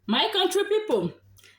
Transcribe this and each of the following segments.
My country people,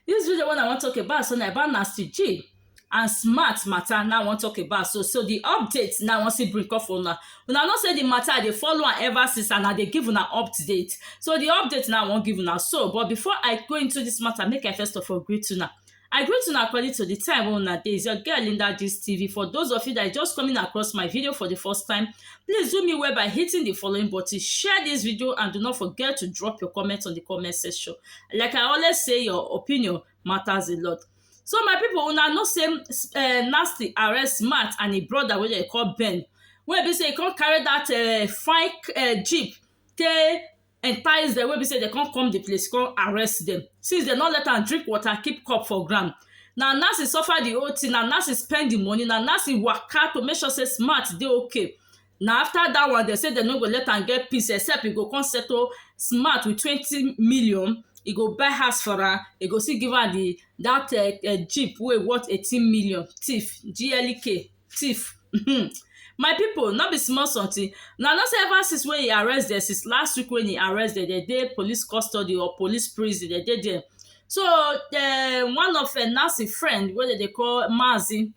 this video one I want to talk about so na about Nasty G and smart matter now I wan talk about so so the update now I wan see bring come for una una know say the matter I dey follow am ever since and I dey give una update so the update now I wan give una so but before I go into this matter make I first of all greet una I greet una according to the time wey una dey. It's your girl Linda Gist TV. For those of you that are just coming across my video for the first time, please do me well by hitting the following button, share this video and do not forget to drop your comment on the comment section. Like I always say, your opinion matters a lot. So my people, una know say um, Nasty arrest Matt and his brother wey dem call Ben, wey be say he come carry that uh, fine uh, jeep take entice dem wey be sey dem come come the place come arrest dem since dem no let am drink water keep cup for ground na Nancy suffer the whole thing na Nancy spend the money na Nancy waka to make sure sey Smart dey okay na after that one dem sey dem no go let am get peace except e go come settle Smart with twenty million e go buy house for am e go still give am the that um jeep wey worth eighteen million thief GLK thief um my people no be small something una know say ever since wey e arrest dem since last week wey e arrest dem dem dey police custody or police prison dem dey there so um one of um Nancy friend wey dem dey call Mazi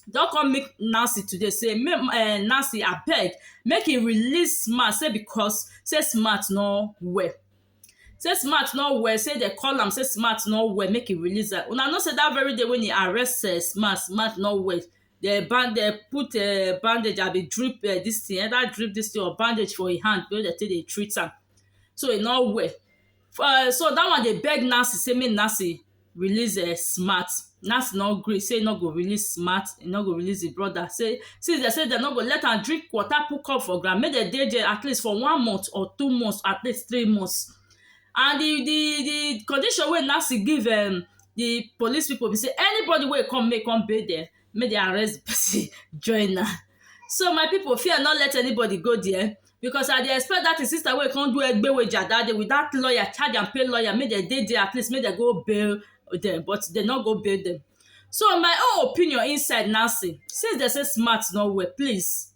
don come meet Nancy today say um Nancy abeg make e release Smart say because say Smart no well Say smart no well, say dem call am say smart no well make e release am. Una know say that very day when e arrest um smart, smart no well. Dem band dem put um bandage abi drip um dis thing either drip dis thing or bandage for e hand wey dem take dey treat am. So e no well. um So that one dey beg Nancy say make Nancy release um smat, Nancy no gree sey e no go release smat, e no go release im brother sey since dem sey dem no go let am drink water put cup for ground make dem dey there atleast for one month or two months atleast three months and the the the condition wey Nancy give um the police people be sey anybody wey come make e come bail dem make dem arrest the person join am so my people fear no let anybody go there because I dey expect that him sister wey come do egbeweja that day with that lawyer charge and pay lawyer make dem dey there at least make dem go bail dem but dem no go bail dem so my own opinion inside now say since dem say smart no well please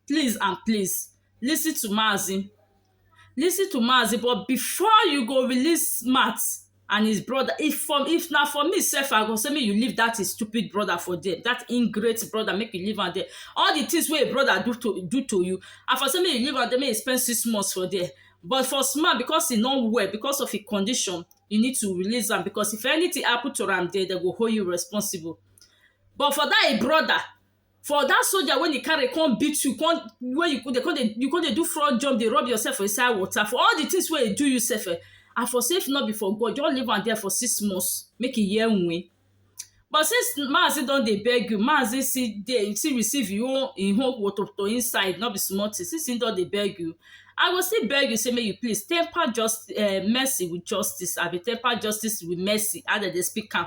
please and please lis ten to mazi Lis ten to Mazi but before you go release mouth and his brother if for if na for me sef I go say make you leave that his stupid brother for there that ingrate brother make you leave am there all the things wey him brother do to do to you I for say make you leave am there make you spend six months for there but for Usman because he no well because of him condition you need to release am because if anything happen to am there dem go hold you responsible but for that him brother for dat soldier wey e carry come beat you come wey you dey come dey you come dey do front jump dey rub yourself for inside water for all the things wey e do you sef um I for say if no be for God just leave am there for six months make e hear wen but since Mazi don dey beg you Mazi still dey still receive im own im own wotowoto inside no be small thing since im don dey beg you I go still beg you say make you please temper justice um mercy with justice abi temper justice with mercy as dem dey speak am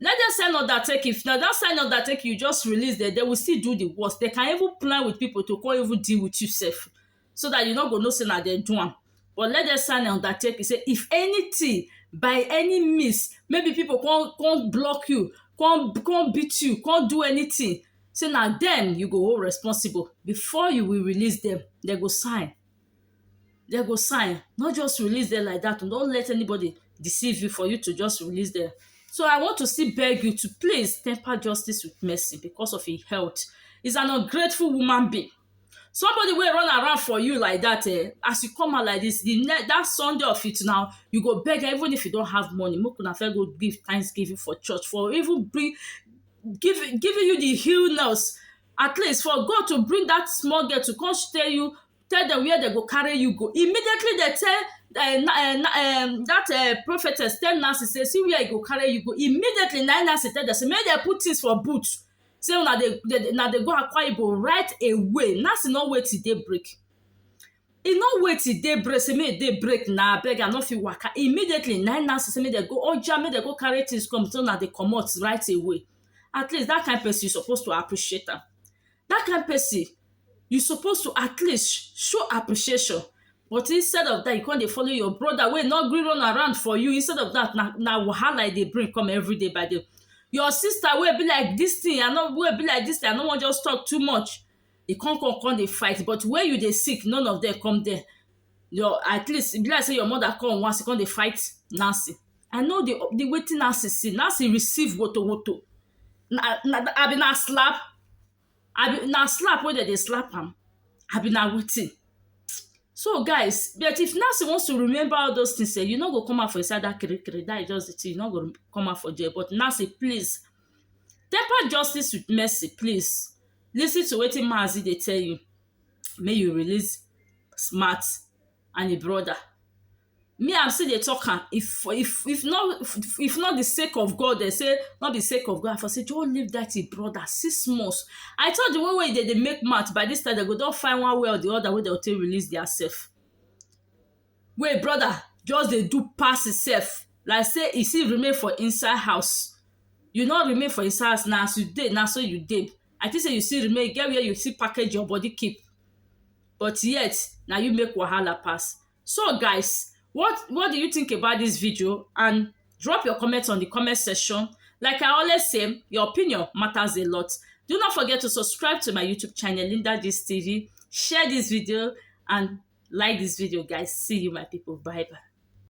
let them send undertaking if na that send undertaking you just release them, they will still do the worst they can even plan with people to come even deal with you sef so that you no go know say na them do am but let them sign undertaking say if anything by any means maybe people come come block you come come beat you come do anything say na them you go hold responsible before you will release them they go sign dem go sign no just release dem like dat no let anybody deceive you for you to just release dem so I want to still beg you to please temper justice with mercy because of him health is an ungrateful human being somebody wey run around for you like dat um as you come out like dis the ne dat Sunday of it now you go beg am even if you don't have money make una first go give thanksgiving for church for even bring giving giving you the illness at least for God to bring that small girl to come stay you, tell them where they go carry you go. Immediately they tell uh, uh, um, that uh, prophetess tell Nancy say see where I go carry you go. Immediately na Nancy tell them say make they put things for boot. Say so, na they, they na they go acquire go right away. Nancy no wait till day break. e no wait till day break say make day break na abeg i no fit waka immediately nine nancy say make dem go oja make dem go carry things come so na dey comot right away at least dat kind person suppose to appreciate am. Dat kind person you suppose to at least show appreciation but instead of dat you come dey follow your brother wey no gree run around for you instead of dat na na wahala e dey bring come everyday by day. Your sister wey e be like dis thing I no wey e be like dis thing I no wan just talk too much e come come come dey fight but where you dey sick none of dem come there your at least e be like sey your mother come once, you come dey fight Nancy. I know the the wetin Nancy see. Nancy receive wotowoto. Na na abi na slap? Abi na slap wey de dey slap am? Abi na wetin? So guys, bet if Nancy wants to remember all dos tins um, you no go come out for inside dat kirikiri, dat e just the tin, you no go come out for dere. But Nancy please, temper justice with mercy please. Lis ten to wetin Mazi dey tell you. make you release smart and e brother me I still dey talk am if if if no if no be sake of God dem say no be sake of God I for say just leave that him brother six months I thought the one wey dem dey make mouth by this time dem go don find one way or the other wey dem go take release their self wey e brother just dey do pass himself like sey e still remain for inside house you no remain for inside house na as you dey na so you dey i think sey you still remain e get where you still package your body keep but yet na you make wahala pass so guys what what do you think about this video and drop your comment on the comment section like i always say your opinion matters a lot do not forget to subscribe to my youtube channel linda this tv share this video and like this video guys see you my people bye bye